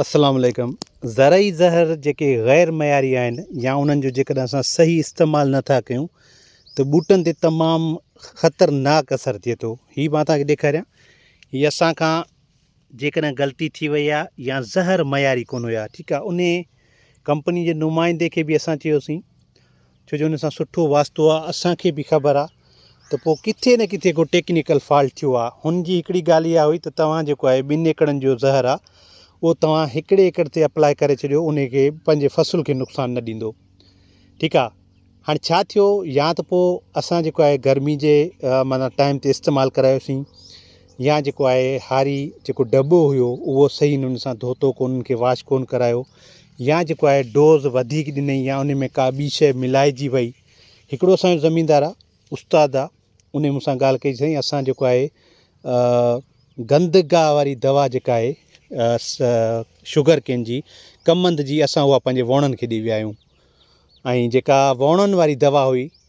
السلام عليڪم زرعي زهر جيڪي غير معياري آهن يا انهن جو جيڪڏهن اسان صحيح استعمال نٿا ڪيون ته ٻوٽن تي تمام خطرناڪ اثر ٿئي ٿو هي مان تان کي ڏيکاريان هي اسان کان جيڪڏهن غلطي ٿي وئي آ يا زهر معياري ڪون هيا ٺيڪ آ انهي ڪمپني جي نمائندي کي به اسان چيوسين ڇو جو ان سان سٺو واسطو آ اسان کي به خبر آ ته پو ڪٿي نه ڪٿي ڪو ٽيڪنيڪل فالٽ ٿيو آ هن جي هڪڙي ڳالهه اها هئي ته توهان جيڪو آهي ٻن ايڪڙن جو زهر آ اهو توهان هڪڙي ايڪڙ تي اپلاء ڪري ڇڏيو ان کي پنهنجي فصل کي نقصان نه ڏيندو ٺيڪ آ هاڻي ڇا ٿيو يا ته پو اسان جيڪو آهي گرمي جي معنيٰ ٽائيم تي استعمال ڪرايوسين يا جيڪو آهي هاري جيڪو ڊٻو هيو اهو صحيح انهن سان ڌوتو ڪو انهن کي واش ڪون ڪرايو يا جيڪو آهي ڊوز وڌيڪ ڏنئي يا ان ۾ ڪا ٻي شيء ملائجي وئي هڪڙو اسان جو زميندار آهي استاد آهي انهي مون سان ڳالهه ڪئي چي سائين اسان جيڪو آهي گند گاهه واري دوا جيڪا آهي شگر ڪين جي ڪمند جي اسان اها پنهنجي وڻن کي ڏئي ويا آهيون ۽ جيڪا وڻن واري دوا هئي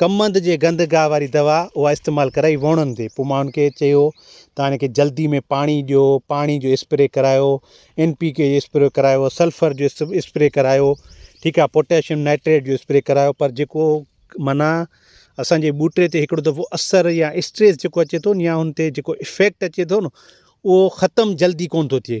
ڪمند جي گند گاهه واري دوا اها استعمال ڪرائي ووڻن تي پوء ماڻهن کي چيو ته هن کي جلدي ۾ پاڻي ڏيو پاڻي جو اسپري ڪرايو ان پي ڪي جو اسپري ڪرايو سلفر جو اسپري ڪرايو ٺيڪ آهي پوٽيشم نائٽريٽ جو اسپري ڪرايو پر جيڪو معنيٰ اسانجي ٻوٽي تي هڪڙو دفعو اثر يا اسٽريس جيڪو اچي ٿو يا ان تي جيڪو افيڪٽ اچي ٿو نه اهو ختم جلدي ڪونه ٿو ٿئي